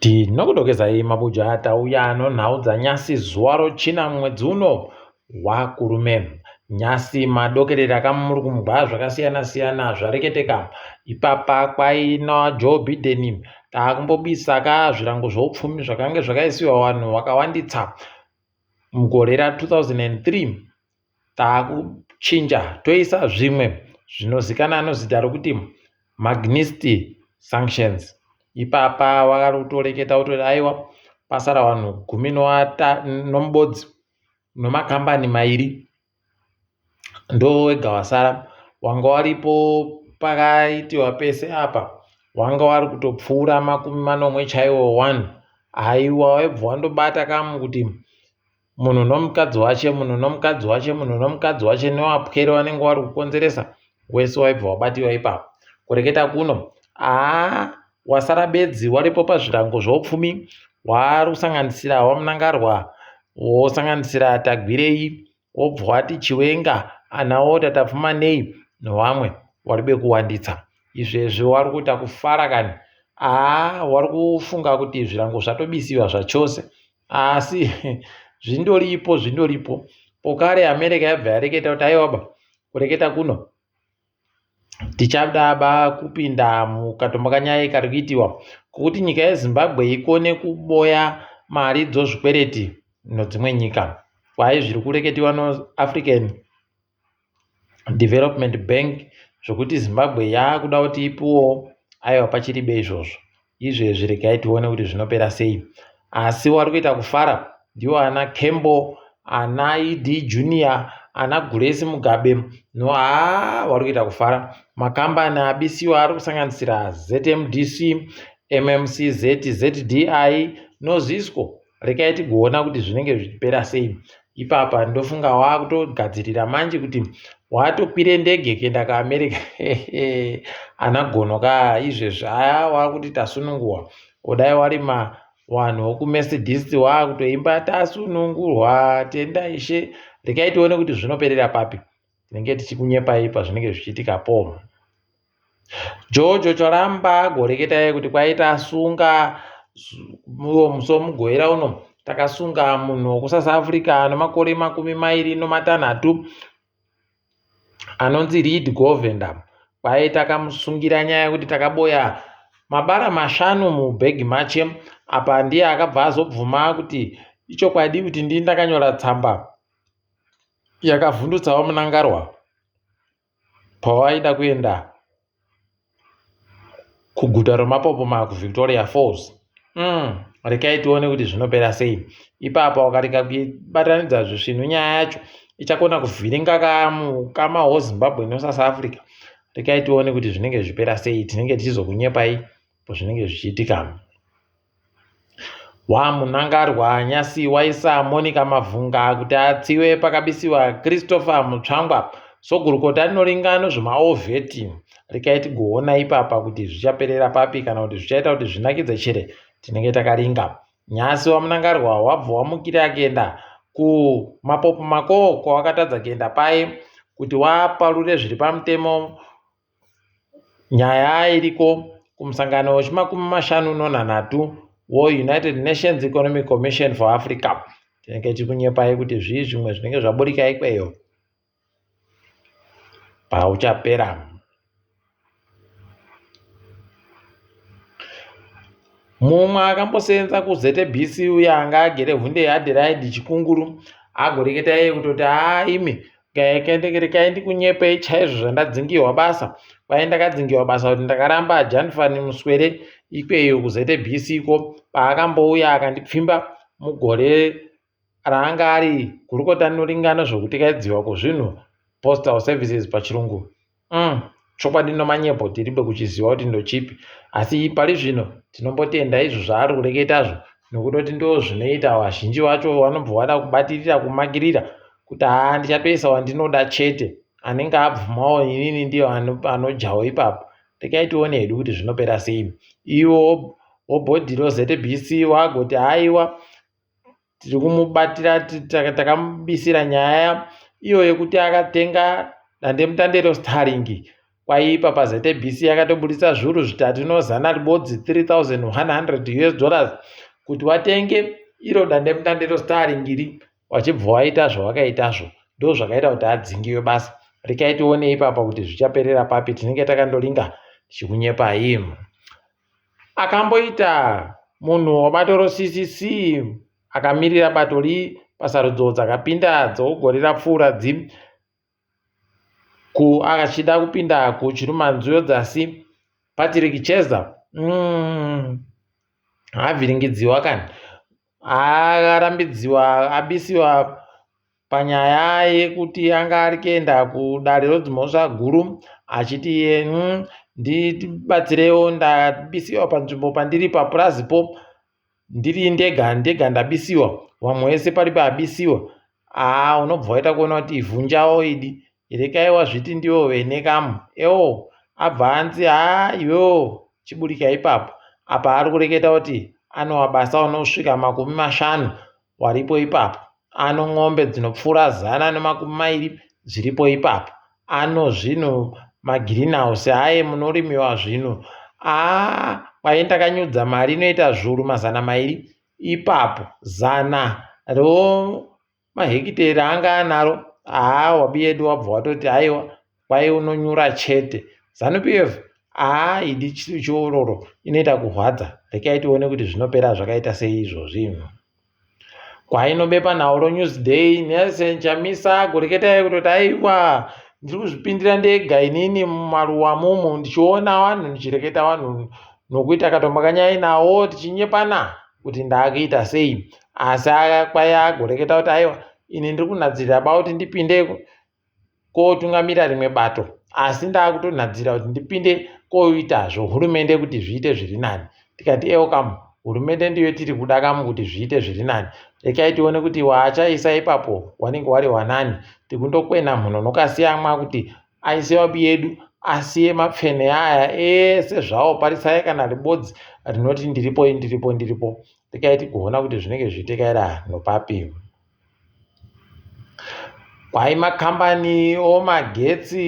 Tinokudokezai mabuja tauya nonhau dzanyasi zuva rochina mwedzi uno wakurume. Nyasi madokerera kamurikumbwa zvakasiyana siyana zvareketeka. Ipapa kwaina Joe Biden takumbobisa ka zvirango zvoupfumi zvakange zvakaisiwa vanhu vakawanditsa mugore ra 2003 takuchinja toisa zvimwe zvinozikana nozita rokuti magnist sanctions ipapa wakari kutoreketa kutoti aiwa pasara vanhu gumi nomubodzi nomakambani mairi ndowega wasara wanga waripo pakaitiwa pese apa wanga wari kutopfuura makumi manomwe chaiwo one aiwa waibva wandobata kamu kuti munhu nomukadzi wache munhu nomukadzi wache munhu nomukadzi wache newapwere wanenge wari kukonzeresa wese waibva wabatiwa ipapo kureketa kuno aa wasara bedzi waripo pazvirango zvoupfumi waari kusanganisira wamunangarwa wosanganisira tagwirei wobva wati chiwenga anawo tatapfumanei nevamwe wari bekuwanditsa izvezvi wari kuita kufara kani aa wari kufunga kuti zvirango zvatobisiwa zvachose asi zvindoripo zvindoripo pokare america yabva yareketa kuti aiwaba kureketa kuno tichadaba kupinda mukatombo kanyaya kari kuitiwa kokuti nyika yezimbabwe ikone kuboya mari dzozvikwereti nodzimwe nyika kwaye zviri kureketiwa noafrican development bank zvokuti zimbabwe yaakuda kuti ipuwo aiwa pachiribe izvozvo izvezvi regai tione kuti zvinopera sei asi wari kuita kufara ndiwo ana kembo ana ed junior ana guresi mugabe no haa wari kuita kufara makambani abisiwa ari kusanganisira zmdc mmcz zddi nozisco rekai tigoona kuti zvinenge zvichipera sei ipapa ndofunga waakutogadzirira manje kuti watokwire ndege kuenda kuamerica ana gono ka izvezvi aya waakuti tasununguwa kudai wari ma wanhu wokumercedist waakutoimba tasunungurwa tenda ishe rekai tione kuti zvinoperera papi tinenge tichikunyepai pazvinenge zvichiitika po Jojo charamba agoreketa iye kuti kwaita asunga muromo somugoera uno takasunga munhu wekusouth africa ano makore makumi mairi nomatanhatu anonzi read govender kwaye takamusungira nyaya yekuti takaboya mabara mashanu mubhegi mache apa ndiye akabva azobvuma kuti ichokwadi kuti ndii ndakanyora tsamba yakavhundutsawo munangarwa pavaida kuenda kuguta romapopoma kuvictoria falls mm, rekai tione kuti zvinopera sei ipapo wakarika kuibatanidza zvisvinu nyaya yacho ichakona kuvhiringa kamukama wozimbabwe nosouth africa rekai tione kuti zvinenge zvipera sei tinenge tichizokunyepai pazvinenge zvichiitika Waa Munangarwa nyasi waisa Monica Mavhunga kuti atsiwe pakabisiwa Christopher Mutsvangwa so gurukota rinoringa nezvemaovheti regai tigoona ipapa kuti zvichaperera papi kana kuti zvichaita kuti zvinakidze chere tinenge takaringa nyasi wamunangarwa wabva wamukira akaenda kumapopo makoo kwawakatadza kuenda paye kuti waparure zviri pamutemo Nyaya iriko kumusangano wechimakumi mashanu nonhanhatu weUnited Nations Economic Commission for Africa tinenge tikunyepai kuti zvii zvimwe zvinenge zvaburika ikweyo pauchapera mumwe akambosenza kuztbc uye anga agere hunde yeadhiraidhi chikunguru agoreketa iye kutoti haa imi rekai ndikunyepei chaizvo zvandadzingiwa basa kwaye ndakadzingiwa basa kuti ndakaramba janfani muswere ikweyo kuzbc ko paakambouya akandipfimba mugore raanga ari gurukota rinoringana zvekutikaidziwa kwezvinhu postal services pachirungu Umm chokwadi nomanyepo tiribe kuchiziva kuti ndochipi asi pari zvino tinombotenda izvo zvaari kureketazvo nokutoti ndo zvinoita vazhinji vacho vanobva vada kubatirira kumakirira kuti haa ndichatoisa wandinoda chete anenge abvumawo inini ndiyo anojawo ipapo regai tione hedu kuti zvinopera sei iwo wobhodhiro zbc wagoti haiwa tiri kumubatira takamubisira nyaya iyo yekuti akatenga dandemutande rostarring kwaipa pazbc yakatoburitsa zviuru zvitatu inozana ribodzi 3100 us dollars kuti watenge iro dandemutande rostarring iri wachibva waita zvawakaitazvo ndo zvakaita kuti adzingiwe basa rikaitione ipapa kuti zvichaperera papi tinenge takandolinga tichikunyepai akamboita munhu webatoro CCC akamirira bato ri pasarudzo dzakapinda dzegore rapfuura dzi ku achida kupinda kuchirumanzuyo dzasi Patrick Cheza mm, avhiringidziwa kani arambidziwa abisiwa panyaya yekuti anga ari kuenda kudare rodzimhosva guru achiti iye mm, ndibatsirewo ndabisiwa panzvimbo pandiri papurazi po ndiri ndega ndega ndabisiwa vamwe wese pari paabisiwa aa unobva waita kuona kuti ivhunjawo idi rekaiwa zviti ndiwo vene kamu ewo abva anzi haa iwewo chiburika ipapo apa ari kureketa kuti anowa basa unosvika makumi mashanu waripo ipapo, ano n'ombe dzinopfuura zana nemakumi mairi dziripo ipapo, ano zvinhu magirinhausi aye munorimiwa zvinhu aa kwaye ndakanyudza mari inoita zvuru mazana mairi ipapo zana remahekiteri anga anaro aa wabiyedu wabva watoti aiwa kwaye unonyura chete zanu pf aa idi chiororo inoita kuhwadza rekai tione kuti zvinopera zvakaita sei izvo zvinhu kwainobepa nauro newsday nelson chamisa goreketai kutoti aiwa ndiri kuzvipindira ndega inini mumaruwa mumu ndichiona vanhu ndichireketa vanhu nokuita katombakanyai nawo tichinyepana kuti ndaakuita sei asi kwaya agoreketa kuti aiwa ini ndiri kunadzirira bauti ndipindeko kotungamira rimwe bato asi ndakutonhadzira kuti ndipinde koitazvo hurumende kuti zviite zviri nani tikati ewo kamu hurumende ndiyo tiri kuda kamu kuti zviite zviri nani rekai tione kuti waachaisa ipapo wanenge wari wanani tikundokwena mhuno nokasiyamwa kuti aise wabi yedu asiye mapfene aya ese zvawo parisai kana ribodzi rinoti ndiripo ndiripo ndiripo rekai tigoona kuti zvinenge zviitikaira nopapi Kwai makambani omagetsi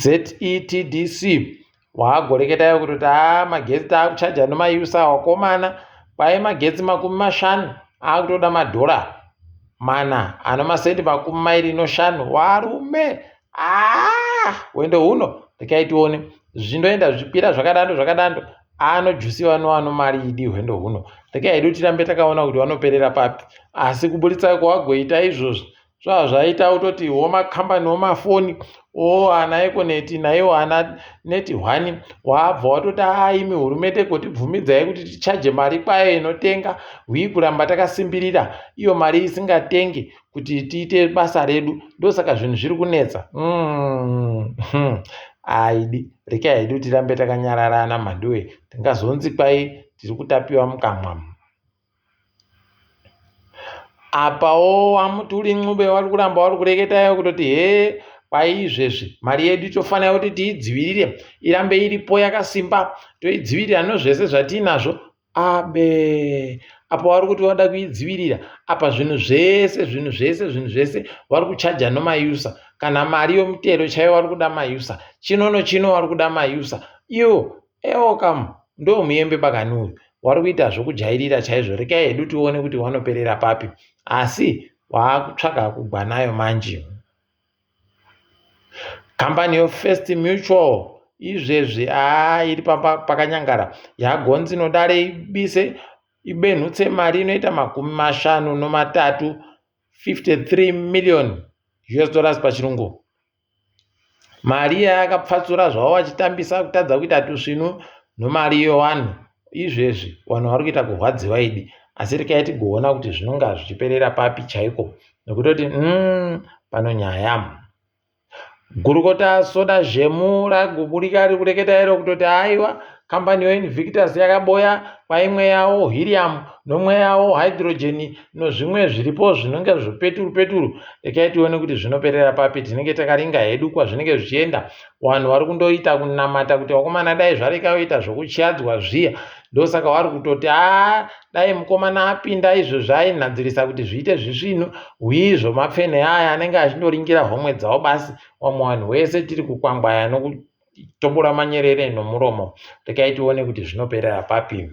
oZETDC waakugoreketa iye kutoti haa magetsi taakuchaja nemayusa wakomana. Kwai magetsi makumi mashanu aakutoda madhora mana anomasendi makumi mairi neshanu. Varume! Ah, wendo huno rekai tione zvindoenda zvipira zvakadando zvakadando anojusi vano vano mari idi hwendo huno rekai hedu tirambe takaona kuti vanoperera papi asi kuburitsa kwawagoita izvozvi zvava zvaita utoti womakambani womafoni o ana ekoneti naiwo ana neti hwani waabva watoti aimi hurumende kotibvumidzai kuti tichaje mari kwayo inotenga hwii kuramba takasimbirira iyo mari isingatenge kuti tiite basa redu ndosaka zvinhu zviri kunetsa mm -hmm. aidi rika haidi kuti rambe takanyararana mhanduwe tingazonzi kwai tiri kutapiwa mukamwa apawo wamuti uri ncube wari kuramba wari kureketayo kutoti hee kwaizvezvi mari yedu tofanira kuti tiidzivirire irambe iripo yakasimba toidzivirira nozvese zvatiinazvo Abe. Apa wari kuti wada kuidzivirira apa zvinhu zvese zvinhu zvese zvinhu zvese wari kuchaja nomayusa kana mari yomutero chaiyo wari kuda mayusa chino nochino wari kuda mayusa iyo ewo kam ndo muyembe bakani uyu wari kuita zvokujairira chaizvo rekai hedu tione kuti wanoperera papi asi waakutsvaga kugwa nayo manje Kambani yeFirst Mutual izvezvi aa iri pakanyangara yagonzi inodare ibise ibenhutse mari inoita makumi mashanu nomatatu 53 million us dollars pachirungu mari iya yakapfatsura zvavo vachitambisa kutadza kuita tusvinu nomari yewanhu izvezvi vanhu vari kuita kurwadziwa idi asi rikai tigoona kuti zvinonga zvichiperera papi chaiko nekutoti mm, pano nyaya gurukota soda zvemu raguburika riri kureketa iro kutoti aiwa kambani yoinvictus yakaboya kwaimwe yawo hiriam nomwe yawo hydrogeni nozvimwe zviripo zvinonge zvipeturu peturu rekai tione kuti zvinoperera papi tinenge takaringa hedu kwazvinenge zvichienda vanhu vari kundoita kunamata kuti vakomana dai zvareka yoita zvokutyadzwa zviya ndosaka wari kutoti a dai mukomana apinda izvo zvainhadzirisa kuti zviite zvisvinu hwii zvomapfene aya anenge achindoringira homwe dzavo basi wamwe vanhu wese tiri kukwangwaya nokutombora manyerere nomuromo rekai tione kuti zvinoperera papi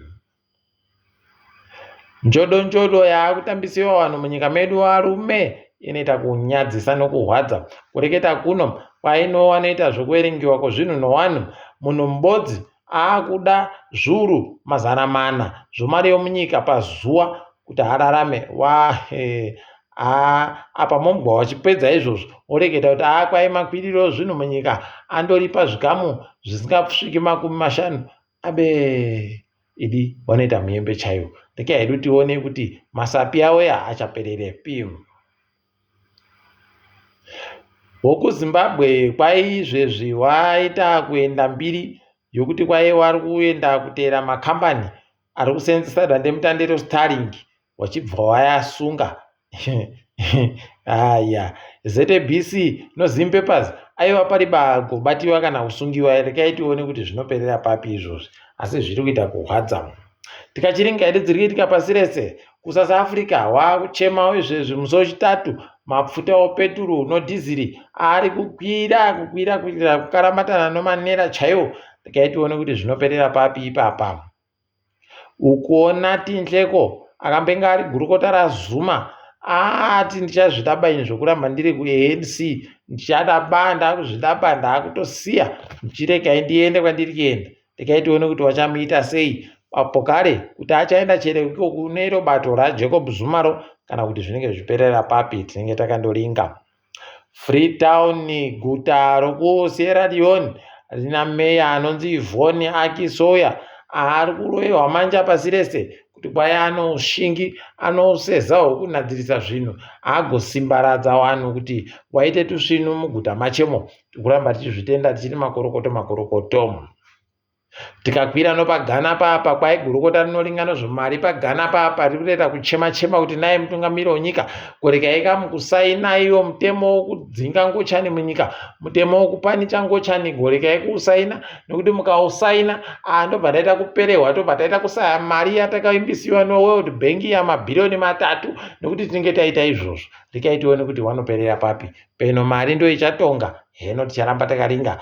Njodo njodo yaakutambisiwa vanhu munyika medu varume inoita kunyadzisa nokuhwadza. Kureketa kuno kwainowa noita zvokuverengiwa kwezvinhu novanhu. Munhu mubodzi aakuda zvuru mazana mana zvomari yomunyika pazuva kuti ararame wahe haa apa mombwa wachipedza izvozvo oreketa kuti haa kwai makwiriro zvinhu munyika andoripa zvikamu zvisingasviki makumi mashanu Abe idi vanoita muyembe chaiwo rekai hedu tione kuti masapi avo ya achaperere pim wokuzimbabwe kwaizvezvi waita kuenda mbiri yokuti kwaiye wari kuenda kuteera makambani ari kuseenzesa dandemutande rostarring wachibva wayasunga haya zabc no zim papers aiva pari bagobatiwa kana kusungiwa rekai tione kuti zvinoperera papi izvozvi asi zviri kuita kurwadza munhu tikachiringa hedu dziri kuitika pasi rese kusouth africa waakuchemawo izvezvi musi wechitatu mapfuta opeturu nodhiziri ari kukwira kukwira kuitira kukaramatana nomanera chaiwo rekai tione kuti zvinoperera papi ipapa Ukuona Tinhleko akambenga ari gurukota raZuma aati ndichazvida ba ini zvekuramba ndiri kuANC ndichada ba ndakuzvida ba ndakutosiya ndichiregai ndiende kwandiri kuenda regai tione kuti vachamuita sei apo kare kuti achaenda chere iko kune iro bato raJacob Zuma ro kana kuti zvinenge zvichiperera papi tinenge takandoringa. Freetown guta rokuSierra Leone rina meya anonzi Yvonne Aki Soya ari kuroyewa manja pasi rese kuti kwaya anoushingi anoseza hwokunadzirisa zvinhu agosimbaradza vanhu kuti waite tusvinu muguta machemo tikuramba tichizvitenda tichiri makorokoto makorokoto tikakwira nopagana papa kwaigurukota rinoringano zvomari pagana papa riri kureta kuchema chema kuti naye mutungamiri wenyika kuregai ka mukusaina iwo mutemo wokudzinga ngochani munyika mutemo wokupanicha ngochani goregai kuusaina nokuti mukausaina ah, ndobva taita kuperehwa tobva taita kusaya mari yatakaimbisiwa noworld bank yamabhiriyoni matatu nokuti tinenge taita izvozvo regai tione kuti wanoperera papi peno mari ndoichatonga heno ticharamba takaringa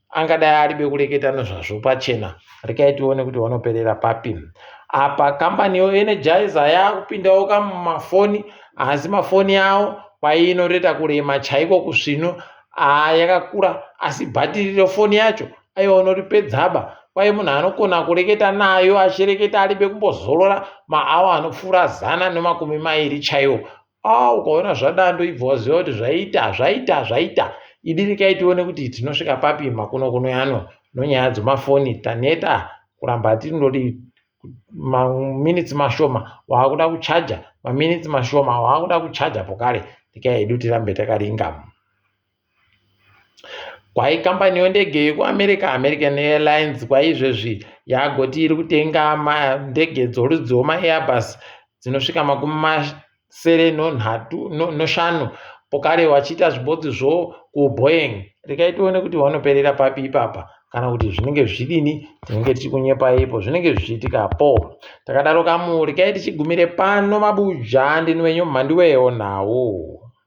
angadai aribe kureketa nezvazvo pachena rekai tione kuti wanoperera papi apa kambani yoenergizer yakupindawo ka mumafoni asi mafoni yawo kwainoreta kurema chaiko kusvino aa yakakura asi bhatiri refoni yacho aiwa unoripedzaba kwaye munhu anogona kureketa nayo achireketa aribe kumbozorora maawa anopfuura zana nemakumi mairi chaiwo Ah, ukaona zvadando ibva waziva kuti zvaita zvaita zvaita idirikai tione kuti tinosvika papi makuno kuno yano nonyaya dzemafoni taneta kuramba hatinododi maminitsi mashoma waakuda kuchaja maminitsi mashoma waakuda kuchaja pokare ndikai hedu tirambe takaringa Kwahi kambani yendege yekuAmerica, American Airlines, kwaizvezvi yagoti iri kutenga ndege dzorudzi rwemaAirbus dzinosvika makumi masere noshanu pokare vachiita zvibodzi zvo kuBoeing. Regai tione kuti vanoperera papi ipapa kana kuti zvinenge zvidini tinenge tichikunyepaipo zvinenge zvichiitika po takadaro kamu regai tichigumire pano mabuja ndini wenyu mhandiwewo nhau